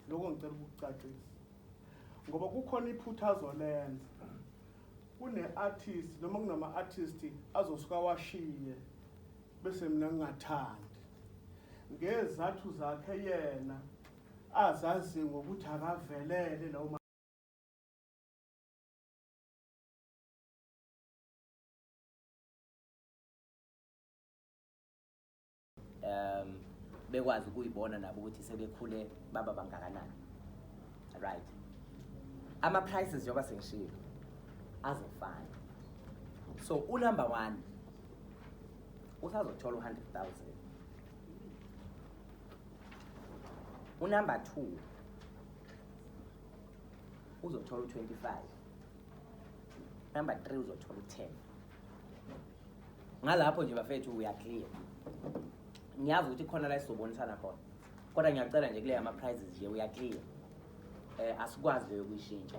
Lokho ngicela ukukucacisa ngoba kukhona iphutha azolenza kune-artist noma kunama-artist azosuka washiye bese mina ngingathandi ngezathu zakhe yena azazi ngokuthi akavelele lawo um bekwazi ukuyibona nabo ukuthi sebekhule baba bangakanani right ama-prices njengoba sengishilo azofana so unumber one usazothola u-hundred thousand unumber two uzothola u-twenty five number three uzothola u-ten ngalapho nje bafethu uyaclear ngiyazi ukuthi khona la sizobonisana khona kodwa ngiyacela nje kuleya ama-prizes nje uyaclear um eh, asikwazi leyo kuyishintsha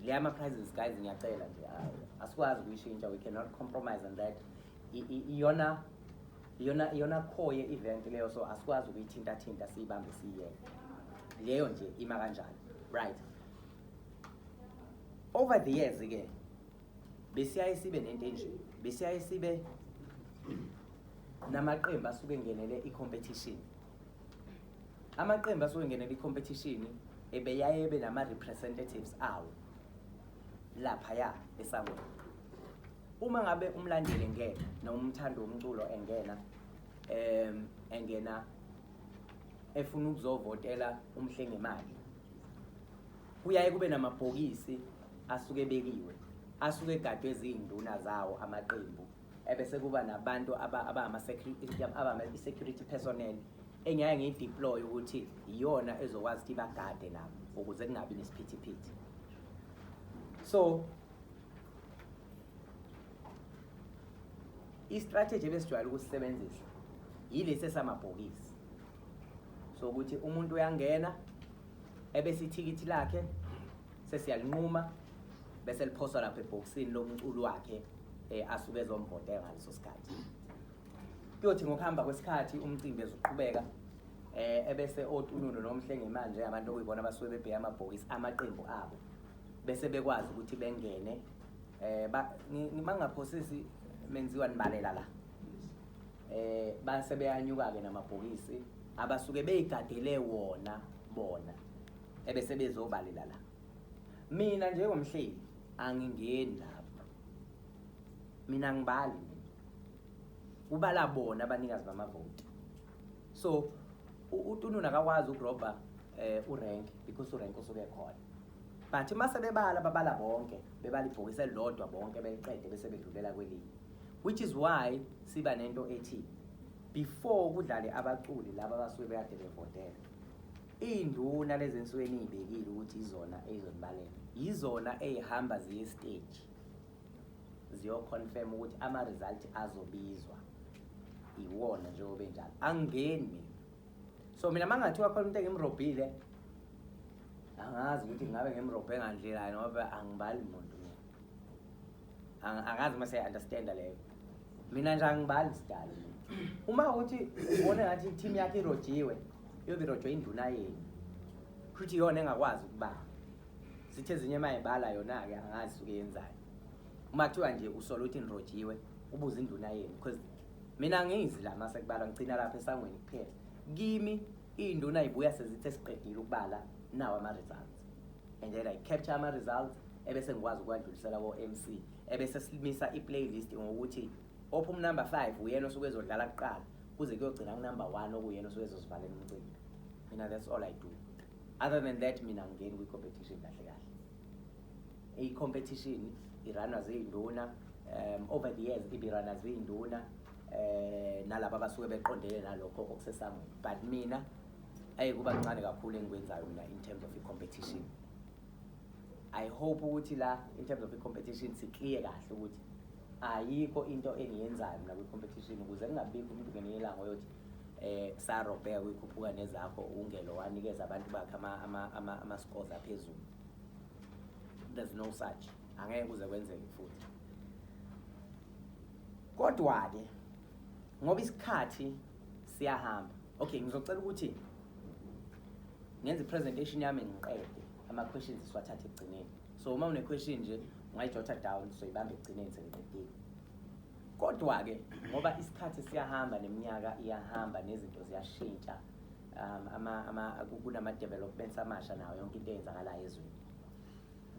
leya ama-prizes guys ngiyacela nje asikwazi kuyishintsha we cannot compromise on that iyona iyona iyona khoye event leyo so asikwazi ukuyithintathinta siyibambe siyiyeke leyo nje ima kanjani right over the years ke besiyaye sibe nento enje besiyaye sibe namaqembu asuke engenele i-competition amaqembu asuke engenele i-competition ebeyaye ebe nama-representatives awo laphaya esangweni uma ngabe umlandeli engena noma umthandi womculo engena um engena efuna ukuzovotela umhlengemali kuyaye kube namabhokisi asuke ebekiwe asuke egadwe eziyinduna zawo amaqembu ebese kuba nabantu abama-security personnel engiyaye ngiyideploye ukuthi iyona ezokwazi ukuthi bagade nabo ukuze kungabi nesiphithiphithi so istrategy ebesijwayele ukusisebenzisa yilesi esamabhokisi so ukuthi umuntu uyangena ebese ithikithi lakhe sesiyalinquma bese liphoswa lapha ebhokisini lomculo wakhe eh, asuke ezomvote ngaleso sikhathi kuyothi ngokuhamba kwesikhathi umcimbi ezoqhubeka eh ebese otununu nomhlenge manje abantu okuyibona basuke bebheka amabhokisi amaqembu abo bese bekwazi ukuthi bengene eh mangaphosisi menziwa nibalela la eh base beyanyuka-ke namabhokisi abasuke beyigadele wona bona ebese bezobalela la mina njengomhleli angingeni lapho mina ngibali kubala bona abanikazi bamavoti so utununa akakwazi ukurobha um eh, urank because urank usuke khona But uma sebebala babala bonke, bebala ibhokisi elilodwa bonke beliqede bese bedlulela kwelinye. Which is why siba nento ethi before kudlale abaculi laba abasuke bekade bevotela. Iy'nduna lezi ensuke eniy'bekile ukuthi izona ey'zonibalela. Yizona ey'hamba ziye esiteji ziyoconfirm ukuthi ama-result azobizwa iwona njengoba enjalo. Angingeni mina. so mina mangathiwa khona umuntu engimrobhile angazi ukuthi ngabe ngimrobhe ngandlela ngoba angibali muntu angazi uma seyi-understanda leyo mina nje angibali sidala uma ukuthi ubone ngathi i-team yakhe irojiwe iyobe irojwe induna yenu kushuthi iyona engakwazi ukubala sithi ezinye uma ibala yona-ke angazi suke yenzayo uma kuthiwa nje usola ukuthi nirojiwe ubuze induna yenu because mina ngizi la mase kubala ngicina lapha esangweni kuphela kimi iy'nduna yibuya sezithe siqedile ukubala nawo ama-results and then i capture ama-results ebese ngikwazi ukuwadlulisela ko-m c ebese silimisa i-playlist ngokuthi opha umnumber five uyena osuke ezodlala kuqala kuze kuyogcina kunumber one okuyena osuke ezosivalela umcimbi mina that's all i do other than that mina ngingeni kwi-competition kahle kahle I-competition iranwa ziyinduna um over the years ibirana ziyinduna eh nalabo abasuke beqondele nalokho okusesangweni but mina ayi kuba kuncane kakhulu engikwenzayo mina in terms of i-competition i hope ukuthi la in terms of i-competition sikliye kahle ukuthi ayikho into engiyenzayo mina kwi-competition ukuze kungabikho umuntu ngelinye ilanga oyothi eh sarobheka kuyikhuphuka nezakho ungelo wanikeza abantu bakhe ama-scores aphezulu there's no such angeke kuze kwenzeke futhi kodwa-ke ngoba isikhathi siyahamba okay ngizocela ukuthi ngenze i-presentation yami ngiqede ama-questions siwathathe ekugcineni so uma une-question nje ungayijotha down soyibamba ekugcineni sengiqedile kodwa-ke ngoba isikhathi siyahamba neminyaka iyahamba nezinto ziyashintsha um, ama, ama, kunama-developments amasha nawo yonke into eyenzakalayo ezweni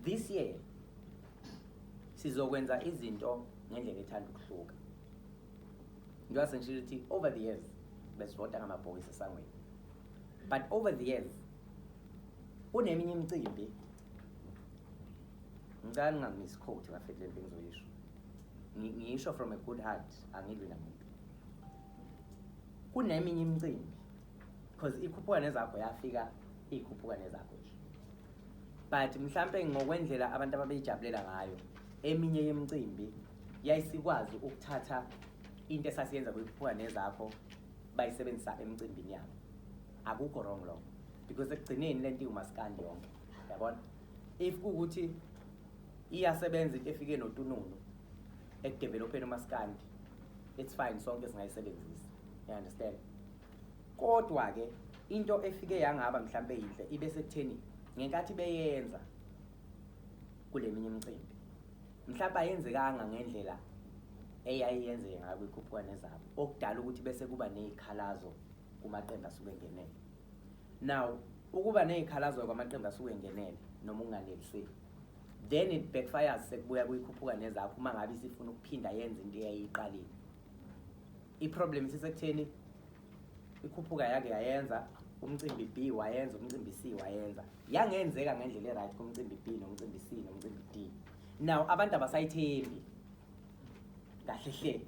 this year sizokwenza izinto ngendlela ethanda ukuhluka njengoba sengishilo ukuthi over the years besivota ngamabhokisi esangweni but over the years kuneminye imicimbi ngicala ngingamisi quote ngafethi le nto engizoyisho ngiyisho from a good heart angilwi namuntu kuneminye imicimbi because ikhuphuka nezakho yafika ikhuphuka nezakho nje but mhlampe ngokwendlela abantu ababeyijabulela ngayo eminye yemicimbi yayisikwazi ukuthatha into esasiyenza kuyikhuphuka nezakho bayisebenzisa emicimbini yabo akukho wrong lokho because ekugcineni le nto iwumasikandi yonke yabona if kuwukuthi iyasebenza into efike notununu ekudevelopheni umasikandi it's fine sonke singayisebenzisa you understand kodwa ke into efike yangaba mhlambe yinhle ibe sekutheni ngenkathi beyenza kuleminye imicimbi mhlawumbe ayenzekanga ngendlela eyayiyenzeke ngayo kwikhuphuwane zabo okudala ukuthi bese kuba nezikhalazo kumaqembu asuke engenele now ukuba nezikhalazo kwamaqembu asuke engenele noma unganeliseki then it backfires sekubuya kuyikhuphuka nezakho uma ngabe isifuna ukuphinda yenze into eyayiyiqalile iproblem isisekutheni ikhuphuka yake yayenza umcimbi b wayenza umcimbi c wayenza yangenzeka ngendlela e-right kumcimbi b nomcimbi c nomcimbi d now abantu abasayithembi kahle hle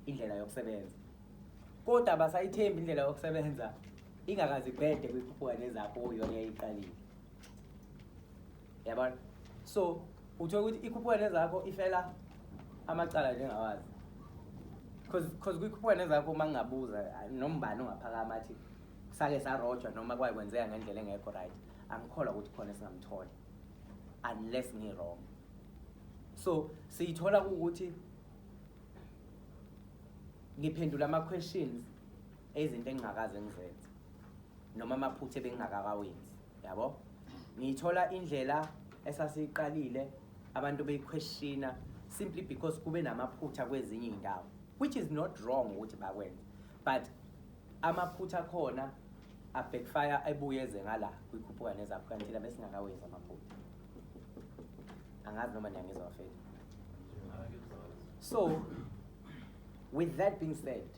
indlela yokusebenza kodwa abasayithembi indlela yokusebenza ingakazi bhede kwikhuphuka nezakho uyona yayiqalile yabona so uthola ukuthi ikhuphuka nezakho ifela amacala njengawazi because because kwikhuphuka nezakho uma ngingabuza nombani ongaphakama athi sake sarojwa noma kwaye kwenzeka ngendlela engekho right angikholwa ukuthi khona esingamthola unless ngi-wrong so siyithola ukuthi ngiphendula ama-questions ezinto engingakaze ngizenze noma amaphutha ebengingakakawenzi yabo ngiyithola indlela esasiyiqalile abantu beyiquestiona simply because kube namaphutha kwezinye iy'ndawo which is not wrong ukuthi bakwenze but amaphutha akhona abackfire ebuye eze ngala kwikhuphuka nezaphuka nithina besingakawenzi amaphutha angazi noma niyangizwa fethu so with that being said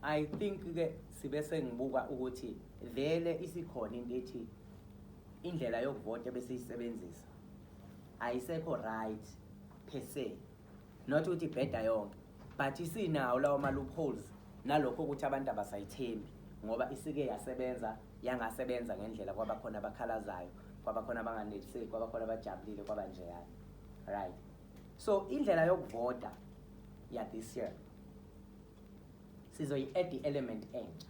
I think ke sibe sengibuka ukuthi vele isikhona into ethi indlela yokuvota besiyisebenzisa ayisekho right per se not ukuthi bheda yonke but isinawo lawo ma loopholes nalokho ukuthi abantu abasayithembi ngoba isike yasebenza yangasebenza ngendlela kwaba khona abakhalazayo kwaba khona abanganeliseki kwaba khona abajabulile kwaba njeyana right so indlela yokuvota ya this year sizoyi-add i-element entsha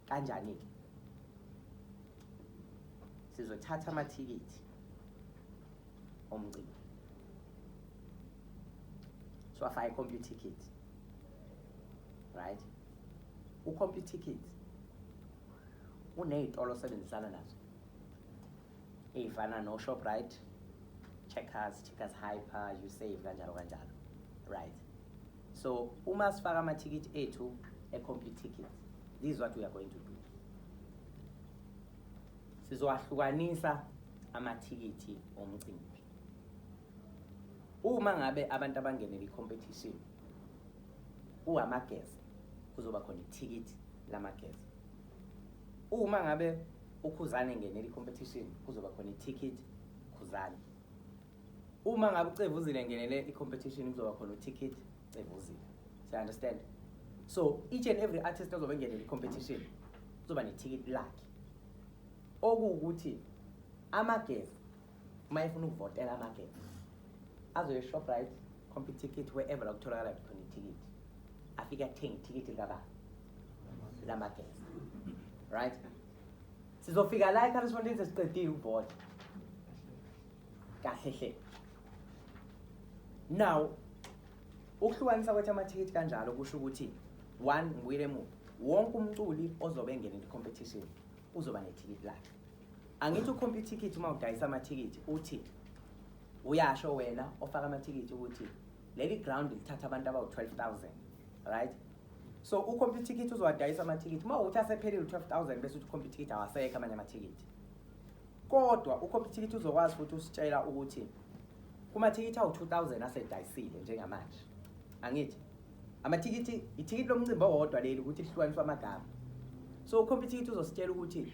kanjani-ke sizothatha amathikithi omcimbi siwafaka i-computer ticket right u-computer ticket uney'tolo osebenzisana nazo ey'fana no-shoprite checkers checkers hyper you save kanjalo kanjalo right so uma sifaka amathikithi ethu e-complete tickets this is what we are going to do sizowahlukanisa amathikithi omcimbi uma ngabe abantu abangenele i-competition uwamageza kuzoba khona ithikithi lamageza uma ngabe ukhuzane ngenela i-competition kuzoba khona i-ticket khuzane uma ngabe ucevuzile ngenele i-competition kuzoba khona u-ticket cevuzile so understand so each and every artist ozobe engenele i-competition kuzoba ne-ticket lakhe okuwukuthi amageza uma efuna ukuvotela amakethe azoye shoprite compy ticket wherever la kutholakala khona ithikithi afike athenge ithikithi likababa lamakethe right sizofika la ekhalisfontini sesiqedile ukuvota kahle hle now ukuhlukanisa kwethu amathikithi kanjalo kusho ukuthi one ngibuyile emuva wonke umculi ozobe engena into competition uzoba nethikithi lakhe angithi ukhompa ithikithi uma udayisa amathikithi uthi uyasho wena ofaka amathikithi ukuthi leli ground lithatha abantu abawu-12000 right so ukhompa ithikithi uzowadayisa amathikithi uma uthi asephelile u-12000 bese uthi ukhompa ithikithi awasekho amanye amathikithi kodwa ukhompa ithikithi uzokwazi futhi usitshela ukuthi kumathikithi awu-2000 asedayisile njengamanje angithi amathikithi ithikithi lomcimbi owodwa leli ukuthi lihlukaniswa amagama so ukhompa ithikithi uzositshela ukuthi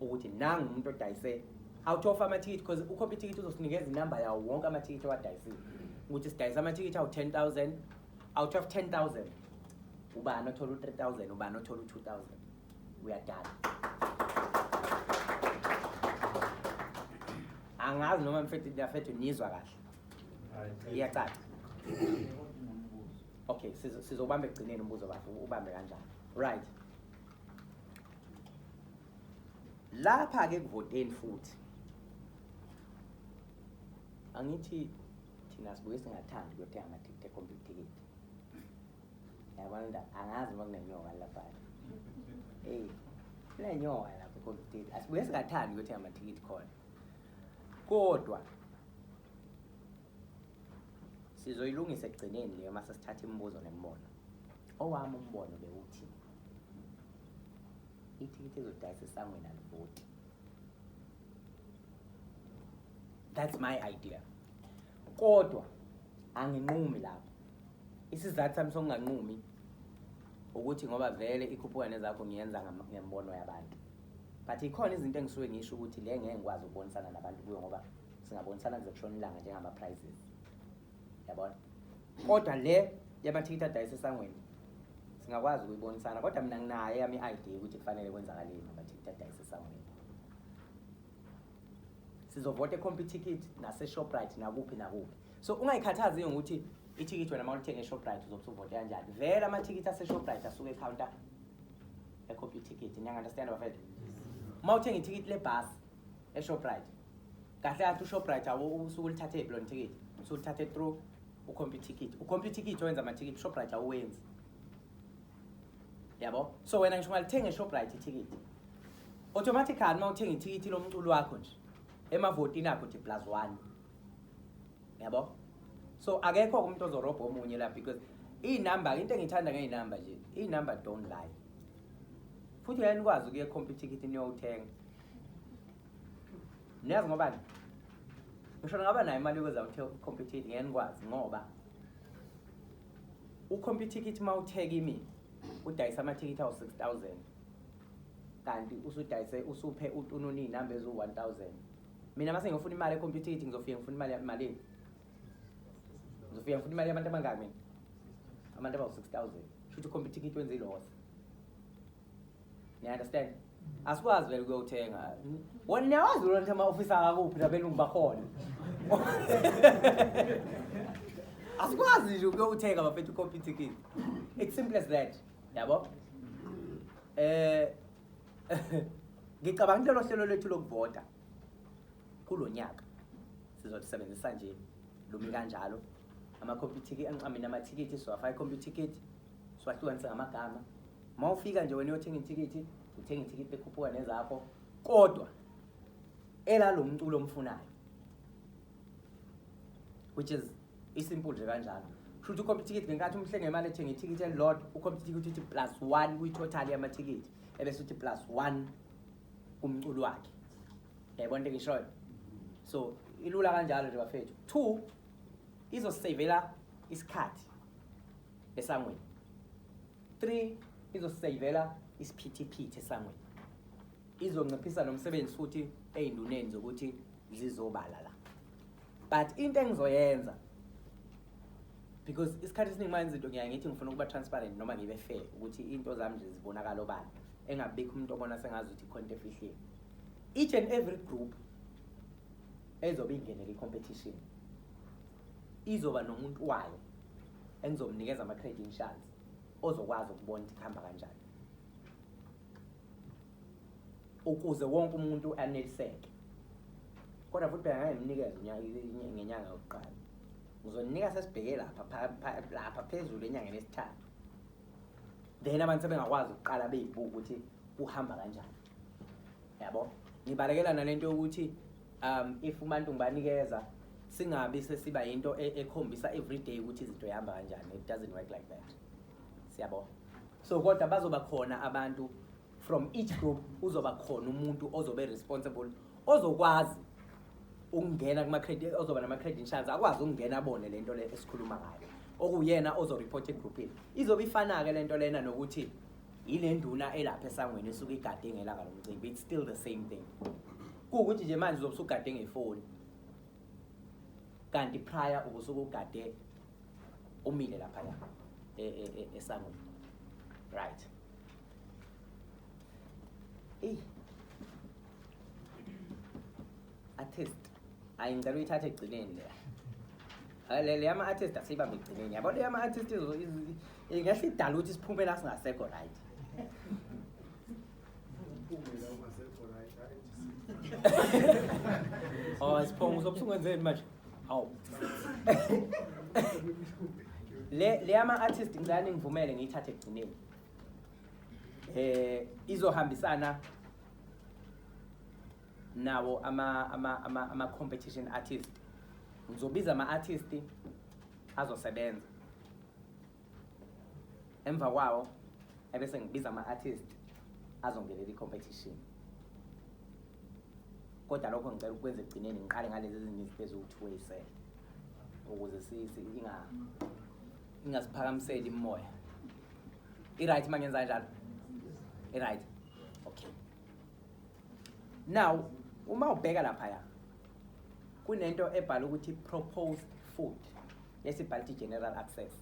ukuthi nangu umuntu odayise out of amathikithi because ukhopha ithikithi uzosinikeza inamba yawo wonke amathikithi owadayisile ukuthi sidayisa amathikithi awu-10000 out of 10000 ubani othola u-3000 ubani othola u-2000 uyadala angazi noma mfethu ndafethu nizwa kahle iyacaca okay sizobamba ekugcineni umbuzo bafo ubambe kanjani right lapha ke kuvoteni futhi angithi thina sibuye singathandi kuyothenga amathikithi ekhomba ithikithi yabona nda angazi uma kunenyoka lapha eyi kunenyoka lapha ekhomba ithikithi asibuye singathandi kuyothenga amathikithi khona kodwa Sizoyilungisa ekugcineni leyo uma sesithatha imibuzo nemibono. Owami umbono bewuthi ithikithi ezodayisa esangweni alivoti. That's my idea. Kodwa anginqumi lapho. Isizathu sami sokunganqumi ukuthi ngoba vele ikhuphuka nezakho ngiyenza ngembono yabantu. But ikhona izinto engisuke ngisho ukuthi le ngeke ngikwazi ukubonisana nabantu kuyo ngoba singabonisana kuzokushona ilanga njengama-prizes yabona kodwa le yamathikithi adayisa esangweni singakwazi ukuyibonisana kodwa mina nginayo eyami i-idea ukuthi kufanele kwenzakaleni amathikithi adayisa esangweni sizovota ekhompa ithikithi naseshoprite nakuphi nakuphi so ungayikhathazi ngokuthi ithikithi wena uma ulithenge eshoprite uzobe usuvote kanjani vele amathikithi aseshoprite asuke ekhawunta ekhompa ithikithi niyangandastand bafethu uma uthenga ithikithi lebhasi eShoprite kahle kahle uShoprite awu usuku lithathe iblo ticket usuku lithathe through ucomputer ticket ucomputer ticket owenza ama ticket Shoprite awenzi yabo so wena ngisho ngalithenga eShoprite iticket automatically uma uthenga ithikithi lomculo wakho nje emavotini akho nje plus 1 yabo so akekho umuntu ozorobha omunye la because iy'number into engiyithanda ngey'number nje iy'number don't lie futhi uyanikwazi ukuye khompyutha ikhithi niyowuthenga niyazi ngoba ngisho ngaba nayo imali yokuza uthe compete ngeke nikwazi ngoba ucompete ithi uma utheka imi udayisa amathikithi awu 6000 kanti usudayise usuphe utununi inamba ezu 1000 mina mase ngifuna imali ecompete ithi ngizofika ngifuna imali malini ngizofika ngifuna imali yabantu abangaki mina abantu abawu 6000 shuthi ucompete ithi wenze iloss niyaunderstand asikwazi vele ukuyothenga wona niyawazi lona ukuthi ama-ofisi akakuphi nabelungu bakhona asikwazi nje ukuyothenga bafethu i-copy ticket it's simple as that yabo eh ngicabanga kulelo hlelo lethu lokuvota kulo nyaka sizolisebenzisa nje lumi kanjalo ama-computer amithikithi siwafaka i-computer ticket siwahlukanise ngamagama uma ufika nje wena uyothenga ithikithi uthenga ithikithi ekhuphuka nezakho kodwa elalo mculo omfunayo which is isimple nje kanjalo shuthi ukhompa ithikithi ngenkathi umhlenga imali ethenga ithikithi elilodwa ukhompa ithikithi uthi plus one kwi-total yamathikithi ebese uthi plus one kumculo wakhe yayibona into engishoyo so ilula kanjalo nje bafethu two izosisavela isikhathi esangweni 3 izosiseyivela isiphithiphithi esangweni izonciphisa nomsebenzi futhi ey'nduneni zokuthi zizobala la but into engizoyenza because isikhathi esiningi manje izinto ngiyaye ngithi ngifuna ukuba transparent noma ngibe fair ukuthi into zami nje zibonakala obala engabikho umuntu obona sengazi ukuthi ikhona into efihlile each and every group ezobe ingenele i-competition izoba nomuntu wayo engizomnikeza ama-credentials ozokwazi ukubona ukuthi kuhamba kanjani ukuze wonke umuntu aneliseke kodwa futhi phela ngangimnikeza ngenyanga yokuqala ngizoninika sesibheke lapha lapha phezulu enyangeni esithathu then abantu sebengakwazi ukuqala beyibuka ukuthi kuhamba kanjani yabo ngibalekela nalento yokuthi um if umuntu ngibanikeza singabi sesiba into e, ekhombisa every day ukuthi izinto ihamba kanjani it doesn't work like that siyabo so kodwa bazoba khona abantu from each group uzoba khona umuntu ozobe responsible ozokwazi ukungena kuma credit ozoba nama credentials akwazi ukungena abone lento le esikhuluma ngayo okuyena ozoreporta egroupini izobe ifana ke lento lena nokuthi yile nduna elapha esangweni esuke igade ngelanga lomcimbi it's still the same thing kuwukuthi nje manje uzobe usugade ngefoni kanti prior ubusuke ugade umile laphaya e, e, e, esangweni right eyi artist hayi ngicela uyithathe ekugcineni le Hayi, le le yama-artist asiyibambe ekugcineni yabo le yama-artist izo- izo- ingahle idala ukuthi siphumele asingasekho right Uphumela uma sekho right, hayi nje. oh siphongo uzobe usungenzeni manje hawu le le yama-artist ngicela ningivumele ngiyithathe ekugcineni um izohambisana nawo ama-competition ama, ama artist ngizobiza ama-artist azosebenza emva kwawo ebese ngibiza ama-artist azongenela i-competition kodwa lokho ngicela ukwenza ekugcineni ngiqale ngalezi ezinye izinto eziwu-two way sell ukuze ingasiphakamiseli imoya i-right uma ngenza njalo i-right okay now uma ubheka laphaya kunento ebhala ukuthi proposed food lesibhala ukuthi general access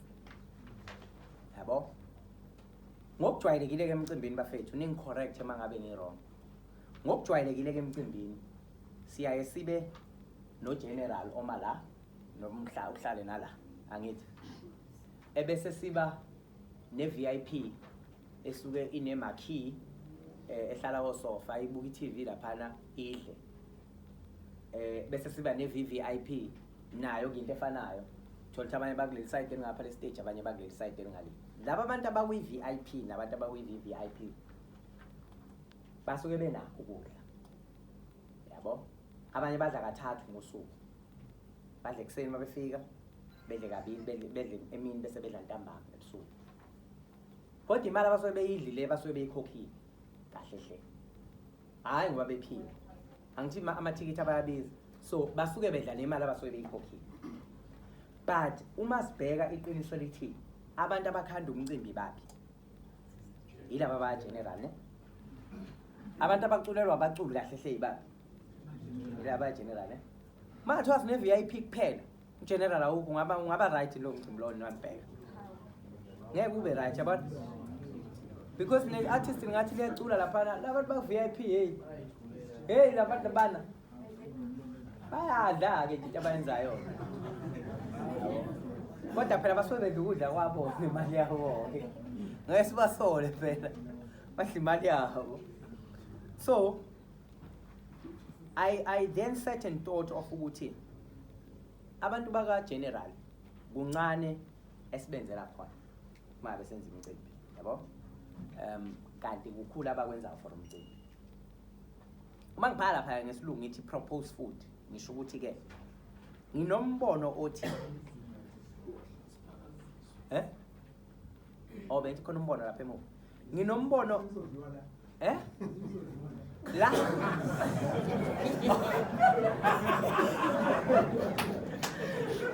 yabo ngokujwayelekile-ke emcimbini bafethu ningi-correct uma ngabe ngi-wrong ngokujwayelekile-ke emcimbini siyaye sibe nogeneral oma la nomhla uhlale nala angithi ebese siba ne-vip esuke ine marquee eh, ehlala kosofa ibuka iTV laphana idle eh bese siba ne VVIP nayo into efanayo thola ukuthi abanye bakuleli side elingapha le stage abanye bakuleli side elingale laba abantu abakwi VIP nabantu abakwi VVIP basuke benakho ukudla yabo abanye badla kathathu ngosuku badla ekuseni uma befika bedle kabili bedle emini bese bedla ntambama ebusuku kodwa imali abasuke beyidlile basuke beyikhokhile kahle hle hhayi ngoba bephile angithi ma- amathikithi abayabiza so basuke bedlala imali abasuke beyikhokhile but uma sibheka iqiniso lithi abantu abakhanda umcimbi baphi yilaba bayageneral ne abantu abaculelwa abaculi kahle hle yibaphi yilaba bayageneral ne mathiwa sine-vip kuphela General awukho ungaba ungaba right lo mcimbi lowo niwambheka. Ngeke ube right yabona. Because ne artist ngathi liyacula lapha labantu ba VIP hey. Hey labantu bana. Bayadla ke into abayenzayo. Kodwa phela basuke bedla ukudla kwabo nemali yabo ke. Ngeke sibasole phela. Badla imali yabo. So I, I then sat and thought of ukuthi abantu baka-general kuncane esibenzela khona uma besenza imicimbi yabo um kanti kukhulu abakwenzayo for umcimbi uma ngibhala laphaya ngesilungu ngithi propose food ngisho ukuthi-ke nginombono othi eh obe khona umbono lapha emuva nginombono eh la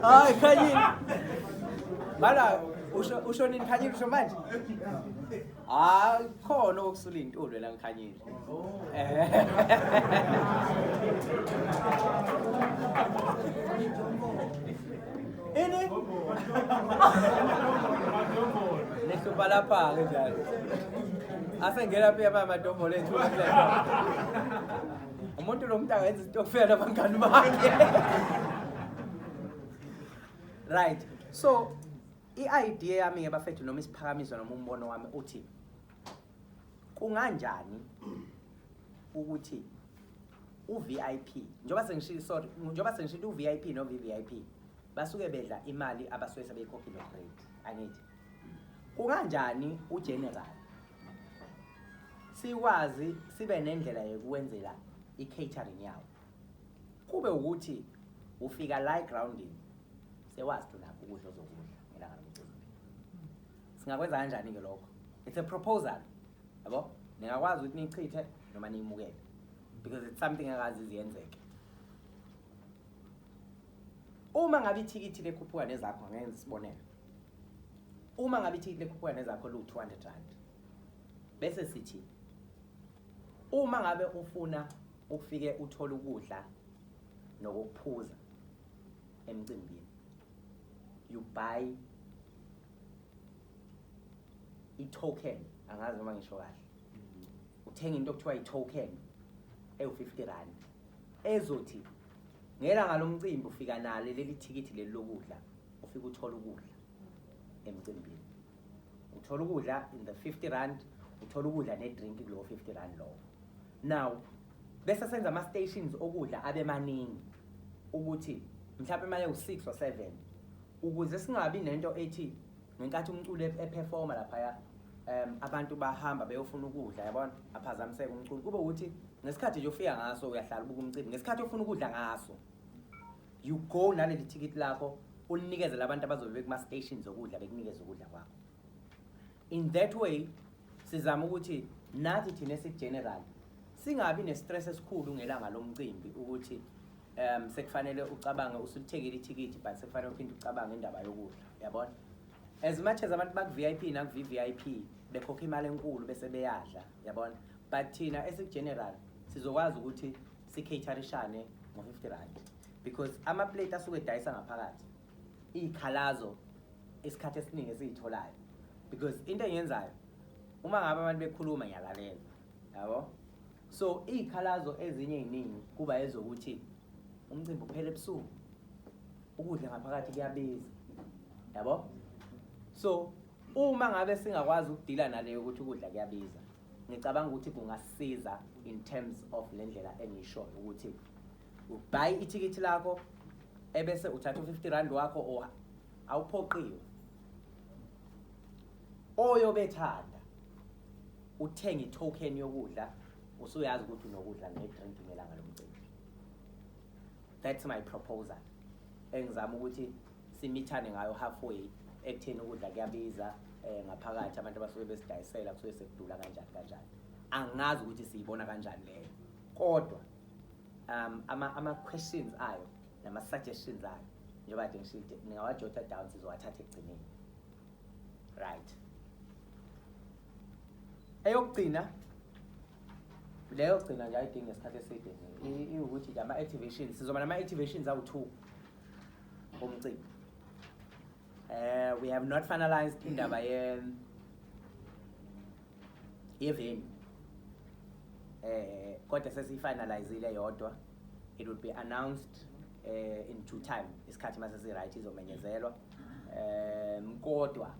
hayi khanyini bala usho usho nini khanyini usho manje hayi khona okusulintulwe la ngikhanyini Ini? Nisupa lapha ke njalo. Asengena phi yaba amadombolo ethu. Umuntu lo muntu angenza isitokfela nabangani bakhe. Right. So i-idea yami ke bafethu noma isiphakamiso noma umbono wami uthi kunganjani ukuthi uVIP njengoba sengishilo sorry njengoba sengishilo uVIP no VVIP basuke bedla imali abasuke sebeyikhokhile grade angithi kunganjani ugeneral sikwazi sibe nendlela yokuwenzela i-catering yawo kube ukuthi ufika la egroundini sewazi thina ukudla ozokudla ngelanga lomcimbi singakwenza kanjani-ke lokho it's a proposal yabo ningakwazi ukuthi niyichithe noma niyimukele because it's something akazi iziyenzeke uma ngabe ithikithi lekhuphuka nezakho ngenza isibonelo uma ngabe ithikithi lekhuphuka nezakho liwu-200 rand bese sithi uma ngabe ufuna ukufike uthole ukudla nokuphuza emcimbini you buy i-token angazi noma ngisho kahle uthenga into okuthiwa i-token ewu-50 rand ezothi ngelanga lomcimbi ufika nalo leli thikithi leli lokudla ufike uthole ukudla emcimbini uthole ukudla in the 50 rand uthole ukudla ne-drink kulowo 50 rand lowo now bese senza ama-stations okudla abe maningi ukuthi mhlawumbe imali ewu-six or seven Ukuze singabi nento ethi ngenkathi umculi eperforma laphaya um abantu bahamba beyofuna ukudla yabona aphazamiseke umculi kube ukuthi ngesikhathi nje ofika ngaso uyahlala ubuka umcimbi ngesikhathi ofuna ukudla ngaso you go naleli thikithi lakho ulinikeze labantu abazobe bekuma-station zokudla bekunikeze ukudla kwakho in that way sizama ukuthi nathi thina esigeneral singabi ne-stress esikhulu ngelanga lomcimbi ukuthi um sekufanele ucabange usulithekile ithikithi but sekufanele uphinde ucabange indaba yokudla yabona as much as abantu baku-v i p naku-v i p bekhokha imali enkulu bese beyadla yabona but thina esikugeneral sizokwazi ukuthi sikhaterishane ngo-fifty rand because amaplate asuke edayisa ngaphakathi iy'khalazo isikhathi esiningi esiyitholayo because into engiyenzayo uma ngabe abantu bekhuluma ngiyalalela yabo So iy'khalazo ezinye ey'ningi kuba ezokuthi umcimbi uphele ebusuku, ukudla ngaphakathi kuyabiza, yabo? So uma ngabe singakwazi ukudila naleyo ukuthi ukudla kuyabiza, ngicabanga ukuthi kungasiza in terms of le ndlela engisho ukuthi ubhayi ithikithi lakho ebese uthatha u-50 rand wakho or awuphoqiwe oyobethanda uthenga i-token yokudla usuyazi ukuthi unokudla ne-drink ngelanga lomcimbi that's my proposal engizama ukuthi simithane ngayo halfway ekutheni ukudla kuyabiza um ngaphakathi abantu abasuke besidayisela kusuke sekudula kanjani kanjani angazi ukuthi siyibona kanjani leyo kodwa um ama-questions ama ayo nama-suggestions ayo njengoba kade ngishide ningawajotha down sizowathatha ekugcineni right eyokugcina leyo gcina nje ayidingi ngesikhathi eside iwukuthi nje ama-activations sizoba nama-activations awu-two omcimbi um we have not finalized indaba yeveni um eh, kodwa sesiyifinalizile yodwa it will be announced uh, in due time isikhathi mase si right izomenyezelwa um kodwa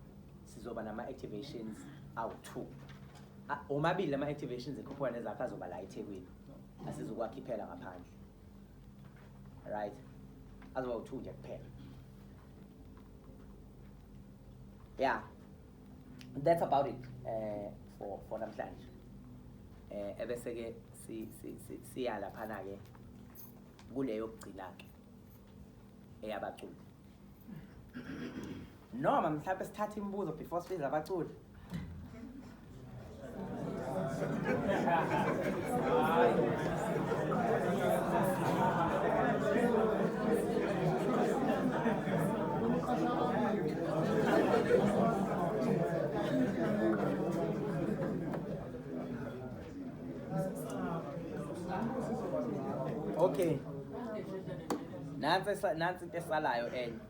sizoba nama activations awu-two omabili lama activations ekhuphuka nezakhe azoba la ethekwini asizokwakhipela ngaphandle right azoba u-two nje kuphela ya that's about it eh for for namhlanje eh ebese ke si si si siya laphana ke kuleyo kugcina ke eyabaculi noma mhlawumbe sithatha imibuzo before sibiza abaculi Okay. Nansi esa- nansi into esalayo enye.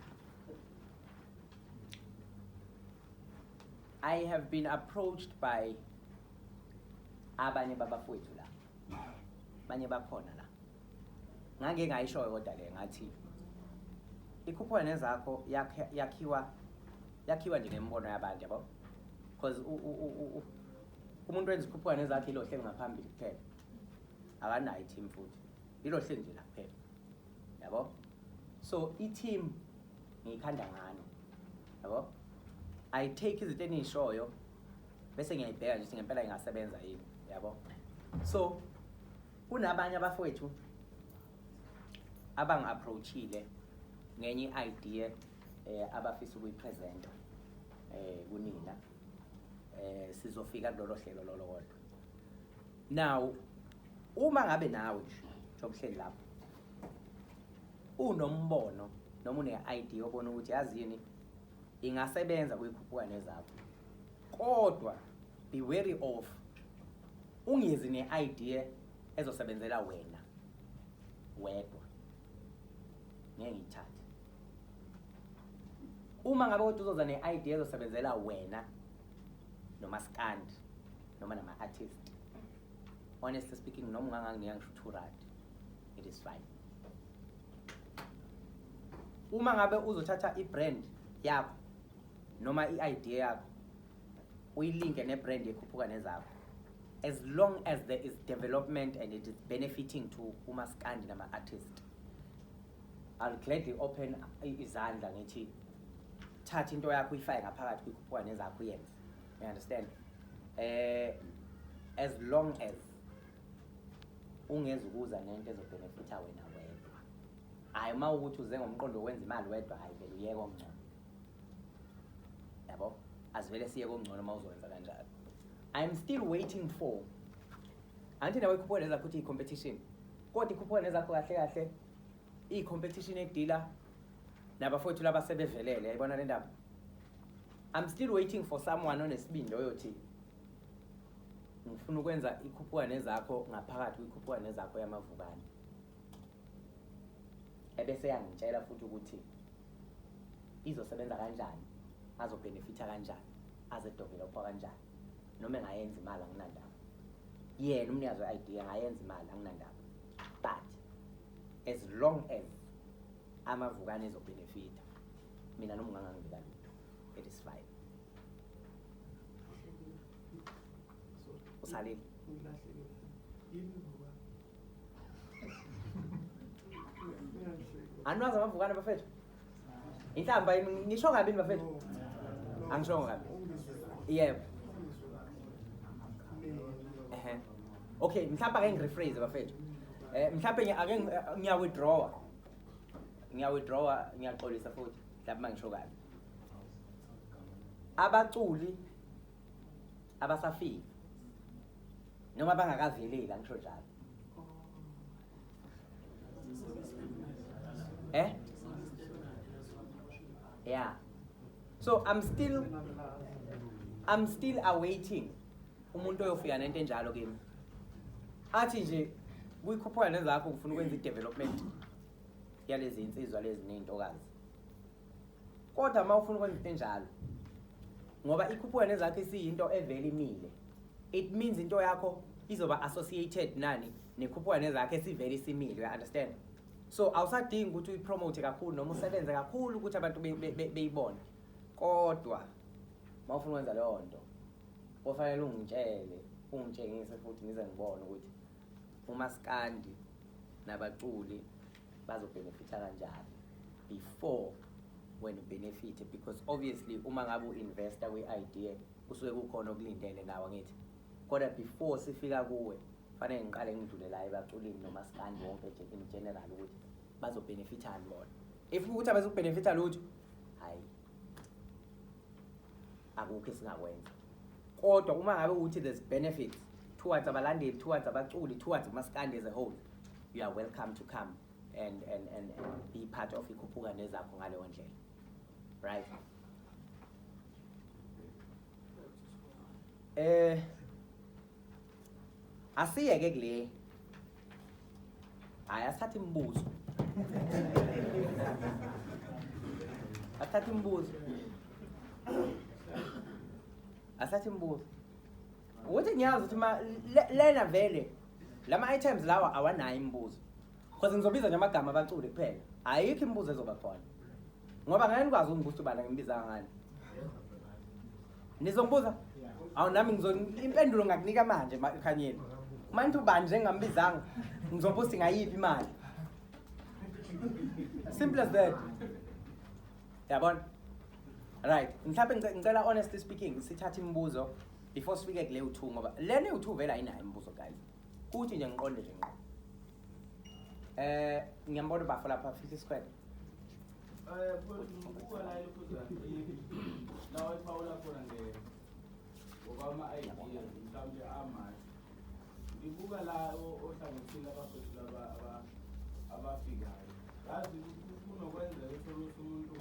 I have been approached by abanye babafowethu la abanye bakhona la ngake ngayishoyo kodwa le ngathi ikhuphula nezakho yakhiwa yakhiwa nje ngembono yabantu yabo because umuntu wenza ikhuphula nezakhe ilo hleli ngaphambili kuphela akanayo i-team futhi ilo hleli nje la kuphela yabo so i-team ngiyikhanda ngani yabo i take izinto eniyishoyo bese ngiyayibheka nje ukuthi ngempela ingasebenza yini yabo so kunabanye abafowethu abangi-approachile ngenye i-idea eh, abafisa ukuyipresenta eh, kunina eh, sizofika kulolo hlelo lolo kodwa now uma ngabe nawe nje njengobuhleli lapho Unombono noma une-idea obona ukuthi yazi yini ingasebenza kuyikhuphuka nezakho kodwa be wary of ungezi ne-idea ezosebenzela wena wedwa ngeke ngiyithathe uma ngabe kodwa uzoza ne-idea ezosebenzela wena nomaskandi noma nama-artist honestly speaking noma unganganginika ngisho u-two rand it is fine uma ngabe uzothatha i-brand yakho noma i-idea yakho uyilinke ne-brand ekhuphuka nezakho as long as there is development and it is benefiting to umaskandi nama-artist i'll gladly open izandla ngithi thatha into yakho uyifake ngaphakathi kuyikhuphuka nezakho uyenze you understand um as long as ungeze ukuza nento ezobhenefitha wena wedwa hhayi uma ukuthi uze ngomqondo wokwenza imali wedwa hhayi vele uyeke okungcono yabo azivele siye kokungcono uma uzowenza kanjalo i'm still waiting for angithi nawe ikhuphuka nezakho ukuthi i-competition kodwa ikhuphuka nezakho kahle kahle iyi-competition edila nabafowethu laba sebevelele yayibona le ndaba i'm still waiting for someone onesibindi oyothi ngifuna ukwenza ikhuphuka nezakho ngaphakathi kwikhuphuka nezakho yamavukane ebese yangitshela futhi ukuthi izosebenza kanjani azobhenefitha kanjani azedevelopha kanjani noma engayenza imali anginandaba yena umnikazi we-idea angayenza imali anginandaba but as long as amavukane ezobhenefitha mina noma ungangangibeka lutho it is fine usalile anwazi amavukane bafethu inhlamba yini ngisho kabi yini bafethu angishongo kabi yebo ehe okay mhlawumbe ake ngirephrase bafethu eh mhlawumbe ngi- ake ngi- ngiya withdrawa ngiya withdrawa ngiyaxolisa futhi mhlawumbe mangisho kabi abaculi abasafika noma bangakaveleli angisho njalo eh yeah so i'm still i'm still awaiting umuntu oyofika nento enjalo kimi athi nje kuyikhuphuka nezakho ngifuna ukwenza i-development yalezi insizwa lezi ney'ntokazi kodwa uma ufuna ukwenza into enjalo ngoba ikhuphuka nezakho isiyinto evele imile it means into yakho izoba associated nani nekhuphuka nezakho esivele isimile you understand so awusadingi ukuthi uyipromote kakhulu noma usebenze kakhulu ukuthi abantu beyibone kodwa uma ufuna ukwenza leyo nto kofanele ungitshele ungitshengise futhi ngize ngibone ukuthi umaskandi nabaculi bazobhenefitha kanjani before when ubenefithe because obviously uma ngabe u-investa kwi-idea kusuke kukhona okulindele nawo ngithi kodwa before sifika kuwe fanele ngiqale ngidlule la ebaculini nomaskandi wonke nje in general ukuthi bazobhenefithani bona if ukuthi abazokubhenefitha lutho hhayi akukho esingakwenza kodwa uma ngabe ukuthi there's benefits towards abalandeli towards abaculi towards umaskandi as a whole you are welcome to come and, and, and, and be part of ikhuphuka nezakho ngaleyo ndlela right eh asiyeke kule Hhayi asithathe imibuzo. Asithathe imibuzo. Asithathe imibuzo. Ukuthi ngiyazi ukuthi ma le- lena vele lama items lawa awanayo imibuzo. Cause ngizobiza nje amagama abaculi kuphela. Ayikho imibuzo ezoba khona. Ngoba ngeke nikwazi ukungibuza ubani ngimbiza ngani. Nizongibuza? Awu nami ngizo impendulo ngakunika manje ma- Khanyeni. Manje ubani njengambizanga ngizobuza ukuthi ngayiphi imali. Simple as that. Yabona? Right. Mhlawumbe ngice- ngicela honestly speaking sithathe imibuzo before sifike kule u2 ngoba lena u2 vela ayinayo imibuzo guys. Kuthi nje ngiqonde nje ngqo. Eh ngiyambona ubafo lapha fihla isikhwele. Eh kuba la ile kuza. La wayiphawula khona nge ngokwama idea mhlawumbe amashi. Ngibuka la ohlangothini abafethu laba abafikayo. Yazi kunokwenzeka ukuthi umuntu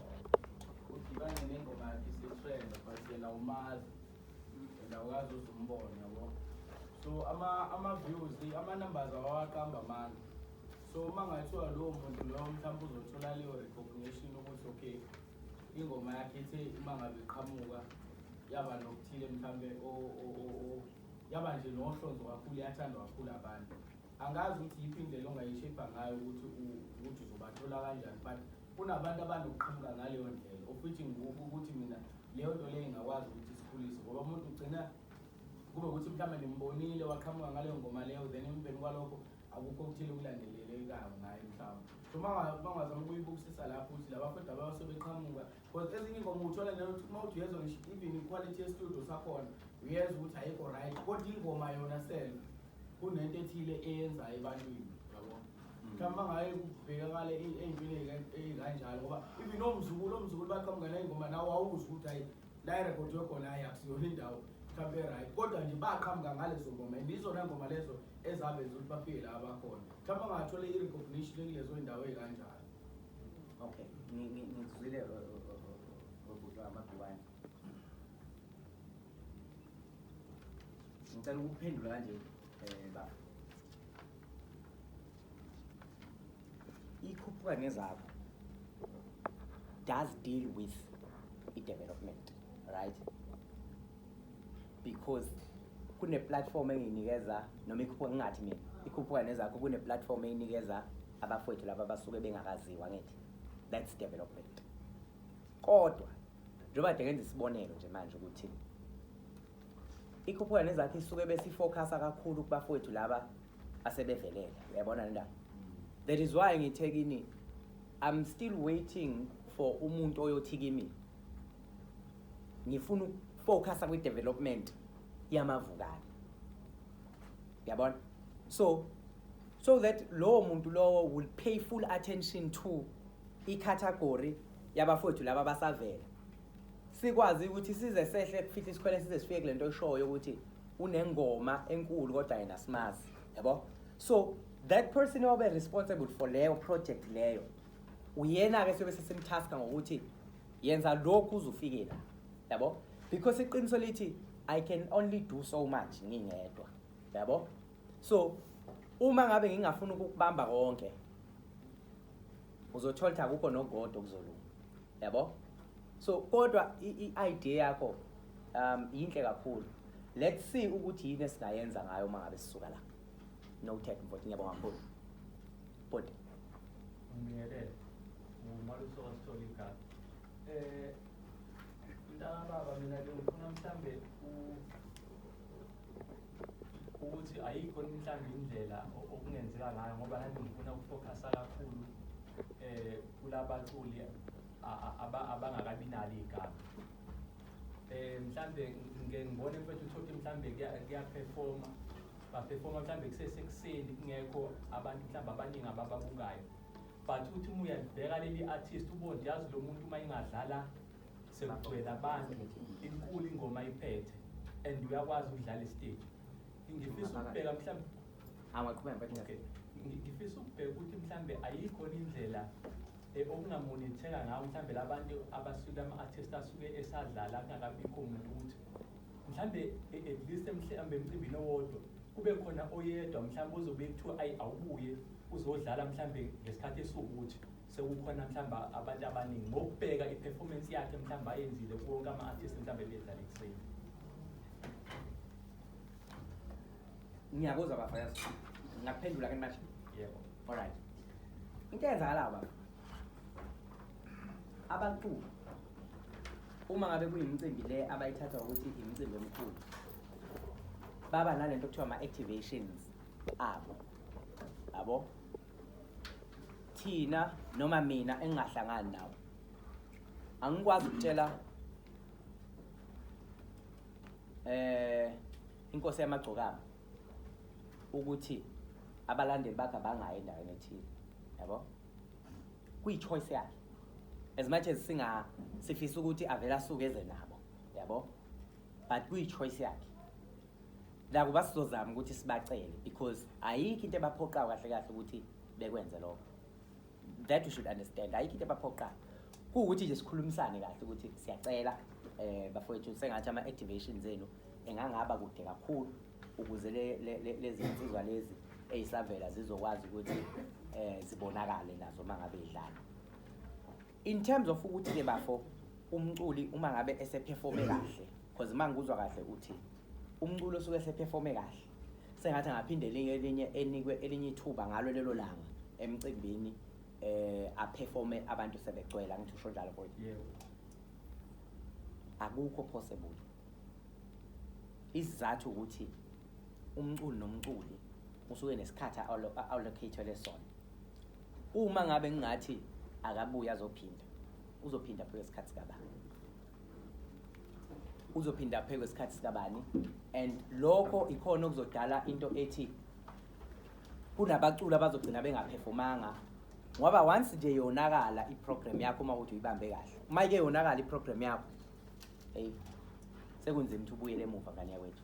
udibane nengoma yakhe isitrend but yena umazi. Ndawukazi uzumbona yabo. So ama ama views ama numbers awaqamba amandla. So uma ngathiwa lowo muntu loyo mhlawumbe uzothola leyo recognition ukuthi okay ingoma yakhe ithe uma ngabe iqhamuka yaba nokuthile mhlawumbe yaba nje nohlonzo kakhulu yathandwa kakhulu abantu angazi ukuthi yiphi indlela ongayishebha ngayo ukuthi ukuthi uzobathola kanjani but Kunabantu abanokuqhamuka ngaleyo ndlela ofithi ngikuphi ukuthi mina leyo nto leyo ingakwazi ukuthi sikhulise ngoba umuntu ugcina kube ukuthi mhlawumbe nimbonile waqhamuka ngaleyo ngoma leyo then emveni kwalokho akukho okuthile okulandelelekayo ngaye mhlawumbe so mangazama ukuyibukisisa lapho ukuthi labafethu ababasebeqhamuka because ezinye ingoma uthola nanokuthi uma uthi uyezwa ngisho even iquality yestudio sakhona uyezwa ukuthi ayikho right kodwa ingoma yona self kunento ethile eyenzayo ebantwini yabo mhlawumbe bangaye kubhekakale ey'ntweni ey'kanjalo ngoba even omzukulu omzukulu baqhamuka ney'ngoma nawe wawuzi ukuthi hayi la irekhodwe khona hayi akusiyona indawo mhlawumbe e-right kodwa nje baqhamuka ngalezo ngoma and izona ngoma lezo ezabenza ukuthi bafike la abakhona mhlawumbe angathole i-recognition ekulezo y'ndawo ey'kanjalo okay ngikuzwile uh, uh, uh, ubhuti wamabhiwane ngicela ukuphendula kanje um eh, baba ikhuphuka nezakho does deal with i-development right because kune-platform engiyinikeza noma ikhuphuka ngingathi mina ikhuphuka nezakho kune-platform eyinikeza abafowethu laba basuke bengakaziwa ngithi that's development kodwa njengoba kade ngenza isibonelo nje manje ukuthi ikhuphuka nezakhe isuke besifocusa kakhulu kubafowethu laba asebevelele uyayibona le ndaba that is why ngithe kini i'm still waiting for umuntu oyothi kimi ngifuna ukufocusa kwi-development yamavukane yabona so so that lowo muntu lowo will pay full attention to i-category yabafowethu laba basavela sikwazi ukuthi size sehle kufihla isikhwele size sifike kule nto eshoyo ukuthi unengoma enkulu kodwa yena simazi yabo so that person obe responsible for leyo project leyo uyena-ke siyobe sesimtaska ngokuthi yenza lokhu uzufike la yabo because iqiniso lithi i can only do so much ngingedwa yabo so uma ngabe ngingafuna ukukubamba konke uzothola ukuthi akukho nogodo okuzolunga yabo so kodwa i-idea yakho um yinhle kakhulu let's see ukuthi yini esingayenza ngayo uma ngabe sisuka la noted mfoti ngiyabonga kakhulu bhuti ngiyelele ngumaluso wasithola igama um mntana baba mina ke ngifuna mhlawumbe ukuthi ayikho mhlawumbe indlela okungenzeka ngayo ngoba nami ngifuna ukufokhasa kakhulu um eh, kulabaculi abangakabi nalo igama eh mhlambe ngike ngibone mfethu uthothe mhlambe kuyaperforma baperforma mhlambe kusesekuseni kungekho abantu mhlambe abaningi abababukayo but uthi uma uyalibheka leli artist ubone yazi lo muntu uma ingadlala sekugcwele abantu inkulu ingoma iphethe and uyakwazi ukudlala istage ngifisa ukubheka mhlawumbe awaqhubeka mfethu okay ngifisa ukubheka ukuthi mhlambe ayikho indlela eh, okungamonitheka ngawo mhlambe labantu abasuke ama-artist asuke esadlala kungakabikho umuntu ukuthi mhlambe eh, at least mhlambe emcimbini owodwa kube khona oyedwa mhlambe ozobe kuthiwa ayi awubuye uzodlala mhlambe ngesikhathi esiwukuthi sekukhona mhlawumbe abantu abaningi ngokubheka i-performance yakhe mhlawumbe ayenzile kuwonke ama-artist mhlawumbe ebedlala ekuseni ngiyakuzwa bafayaz ngakuphendula ke manje yebo alright into eyenzakala ba abaculi uma ngabe kuyimicimbi le abayithatha ukuthi imicimbi omkhulu baba nalento kuthiwa ama-activations abo abo thina noma mina engingahlangani nawe angikwazi ukutshela eh inkosi yamagcokama ukuthi abalandeli bakhe abangayi endaweni ethile yabo kuyi-choice yakhe as much as singa sifisa ukuthi avele asuke eze nabo yabo but kuyi-choice yakhe Nakuba sizozama ukuthi sibacele because ayikho into ebaphoqayo kahle kahle ukuthi bekwenze lokho. That you should understand. Ayikho into ebaphoqayo. Kuwukuthi nje sikhulumisane kahle ukuthi siyacela eh bafowethu sengathi ama activations enu engangaba kude kakhulu ukuze le- le- le- lezi nsizwa lezi eyisavela zizokwazi ukuthi eh zibonakale nazo mangabe idlala. In terms of ukuthi ke bafo umculi uma ngabe eseperforme kahle because uma ngikuzwa kahle uthi umculo osuke eseperforme kahle sengathi angaphinde elinye elinye enikwe elinye ithuba ngalo lelo langa emcimbini eh aperforme abantu sebegcwela ngithi usho njalo boy yebo akukho possible isizathu ukuthi umculi nomculi usuke nesikhathi allocated lesona Uma ngabe ngingathi akabuye azophinda, uzophinda phela isikhathi sikabani? Uzophinda phela isikhathi sikabani? And lokho ikhona okuzodala into ethi kunabaculi abazogcina bengaphefomanga ngoba once nje yonakala iprogram yakho uma ukuthi uyibambe kahle uma ike yonakala iprogram yakho hey sekunzima ukuthi ubuyele emuva ngane yakwethu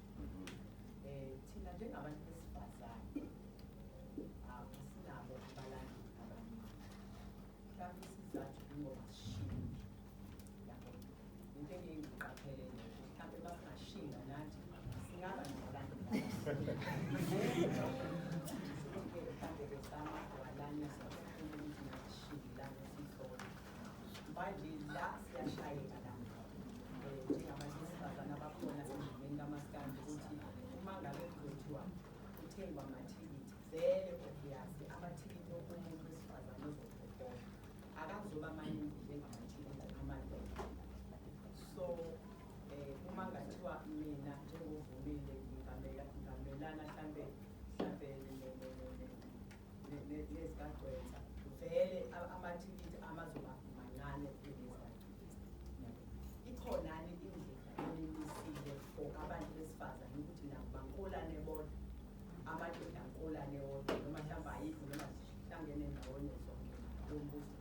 eh thina njengabantu besifazane asinabo abalandi abaningi mhlawumbe isizathu kungoba sishintshe yabo into engeke ngiqaphele nje mhlawumbe basingashinga nathi singaba nabalandi mhlawumbe besama kwalanisa ukuthi nashingilana sihlole manje la siyashayeka la eh, njengabantu besifazane abakhona sendimeni kamaskandi ukuthi uma ngabe kuzothiwa kuthengwa amathikithi vele obviyasi amathikithi okunye wesifazane ozokhokhoa akazoba maningi njengamathikithi amadoda so eh, uma ngathiwa mina njengovumile ngingamelana hlampe hlampe nezikagcwensa vele amathikithi amazoba mancane ikhonani indlela elimisile for abantu besifazane ukuthi nabo bankolane bodwa amadoda ankolane wodwa noma mhlawumbe ayikho noma zihlangene ndawonye zonke lombuso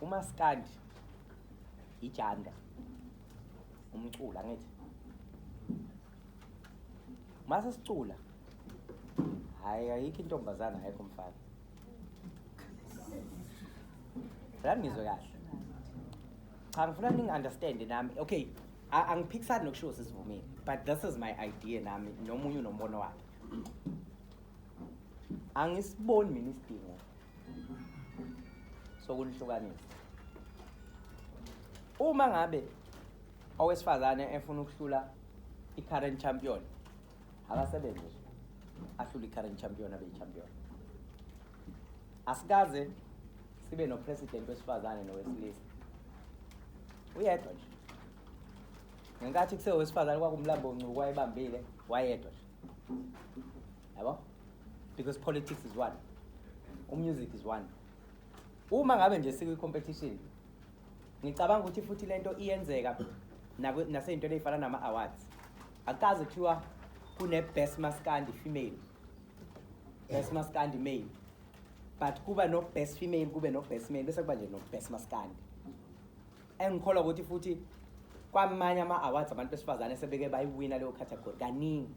umaskandi ijanda umcula ngithi mase sicula hayi ayikho intombazana ayikho mfana la ngizwe kahle cha ngifuna ningi-understand nami okay angiphikisani nokushiwo sesivumile but this is my idea nami nomunye unombono wakhe angisiboni mina isidingo sokunihlukanisa uma ngabe owesifazane efuna ukuhlula i-current champion akasebenzi ahlule i-current champion abe yi-champion asikaze sibe nopresident wesifazane nowesilisa uyedwa nje ngenkathi kusewesifazane kwakumlambo ncuku wayebambile wayedwa nje yabo because politics is one umusic is one uma ngabe nje sikwi-competition ngicabanga ukuthi futhi le nto iyenzeka naseyintweni eyifana nama-awards akukaze kuthiwa kune-best maskandi female best maskandi male but kuba no-best female kube no-best male bese kuba nje no-best maskandi engikholwa ukuthi futhi kwamanye ama-awards abantu besifazane sebeke bayiwina leyo category kaningi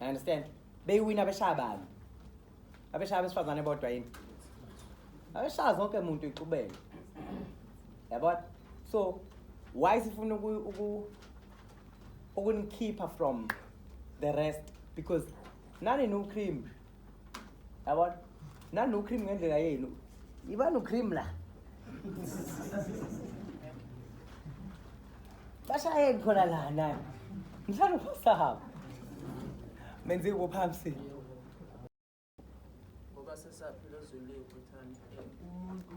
I understand beyiwina beshaya bani abeshaya besifazane bodwa yini abeshaya zonke muntu ixubene yabona so why sifuna ukunikhipha from the rest because nani no cream yabona nani ucream ngendlela yenu ibani ucream la bashayeni khona la nani ngihlala uphasahaba menze kuphambisile ngoba sesaphila ezweni lethu thanda umuntu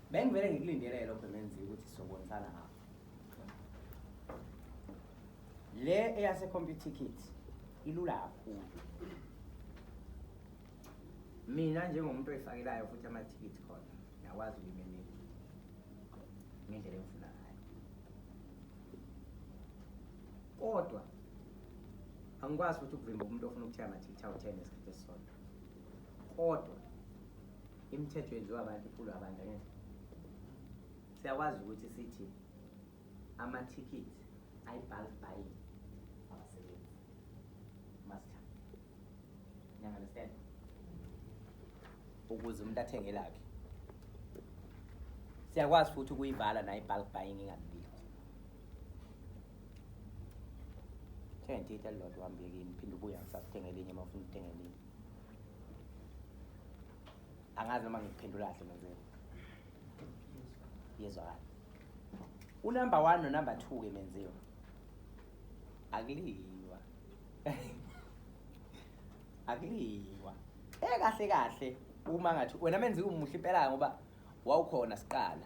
Bengivele ngikulindele lokho menziwe ukuthi sizobonisana ngakho. Le eyase computer kit ilula kakhulu. Mina njengomuntu oyifakelayo futhi amathikithi khona ngiyakwazi ukuyimemela ngendlela engifuna ngayo. Kodwa angikwazi futhi ukuvimba umuntu ofuna ukuthenga amathikithi awu-10 ngesikhathi esisodwa. Kodwa Imithetho yenziwa abantu iphulwa abantu angithi. Siyakwazi ukuthi sithi amathikithi ayibhali bhayi abasebenzi. Master. You understand? Ukuze umuntu athenge lakhe. Siyakwazi futhi ukuyivala nayo ibhali buying ingabili. Thenga into elilodwa uhambe yekini phinde ubuye ngisakuthenga elinye uma ufuna ukuthenga elinye. angazi noma ngikuphendula kahle menzeni yezwakala unumber one nonumber two ke menziwa akuliwa akuliwa ekahle kahle uma ngathi wena menziwa umuhle impela ngoba wawukhona siqala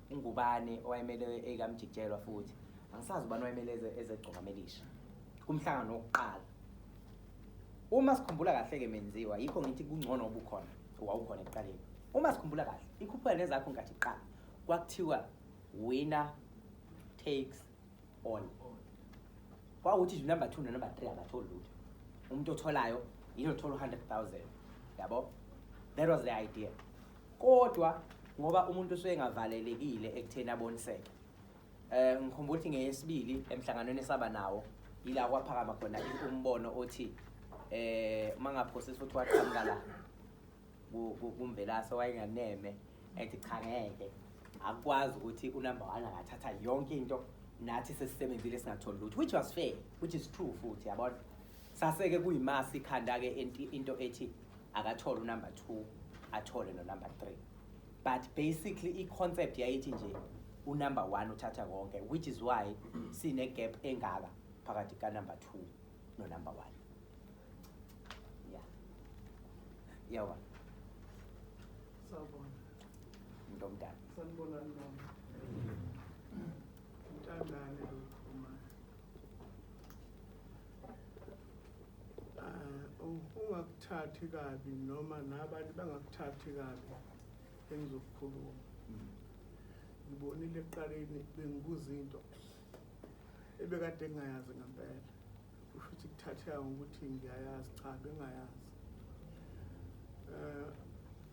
uNgubane owayemele ekaMjikijelwa futhi angisazi ubani owayemele ezegcokamelisha kumhlangano wokuqala uma sikhumbula kahle-ke menziwa yikho ngithi kungcono ubukhona wawukhona ekuqaleni uma sikhumbula kahle ikhuphula nezakho nkathi iqala kwakuthiwa winner takes all kwawukuthi nje number two nenumber three akatholi lutho umuntu otholayo yilo thola u-hundred thousand yabo that was the idea kodwa ngoba umuntu usuke engavalelekile ekutheni aboniseke eh ngikhumbula ukuthi ngeyesibili emhlanganweni esaba nawo yila kwaphakama khona umbono othi eh mangaphosisa ukuthi waqhamuka la kumvelase wayenganeme ethi cha ngeke akwazi ukuthi unumber 1 angathatha yonke into nathi sesisebenzile singatholi lutho which was fair which is true futhi yabona Saseke kuyimasi ikhanda ke into ethi akathole unumber 2 athole no number 3. But basically i concept yayithi nje unumber 1 uthatha konke which is why sine gap engaka phakathi ka number 2 no number 1. Yeah. Yawa. Sawubona. Ndomdala. Sanibonani mama. Mthandane lo. ungakuthathi kabi noma nabanye bangakuthathi kabi engizokukhuluma hmm. ngibonile ekuqaleni bengibuza into ebekade ngingayazi ngempela kusho ukuthi kuthatheka ngokuthi ngiyayazi cha bengayazi um eh,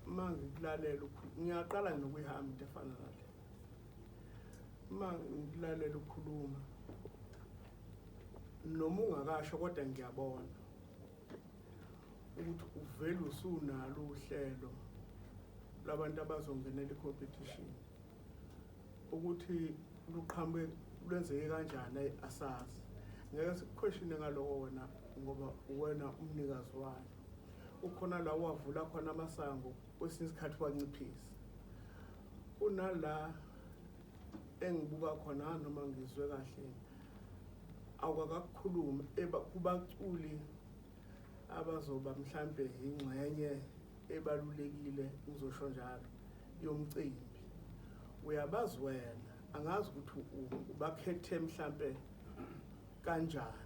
uma ngikulalela ngiyaqala nokuyihamba into efana nale uma ngikulalela ukhuluma noma ungakasho kodwa ngiyabona ukuthi uvele usunalo uhlelo labantu abazongenela i-competition ukuthi luqhamuke lwenzeke kanjani asazi ngeke sikuquestione ngaloko wena ngoba wena umnikazi wayo ukhona la wavula khona amasango kwesinye isikhathi wanciphisa kunala engibuka khona noma ngizwe kahle awukakakukhulumi kubaculi abazoba mhlampe ingxenye ebalulekile ngizosho njalo yomcimbi uyabazi wena angazi ukuthi ubakhethe mhlampe kanjani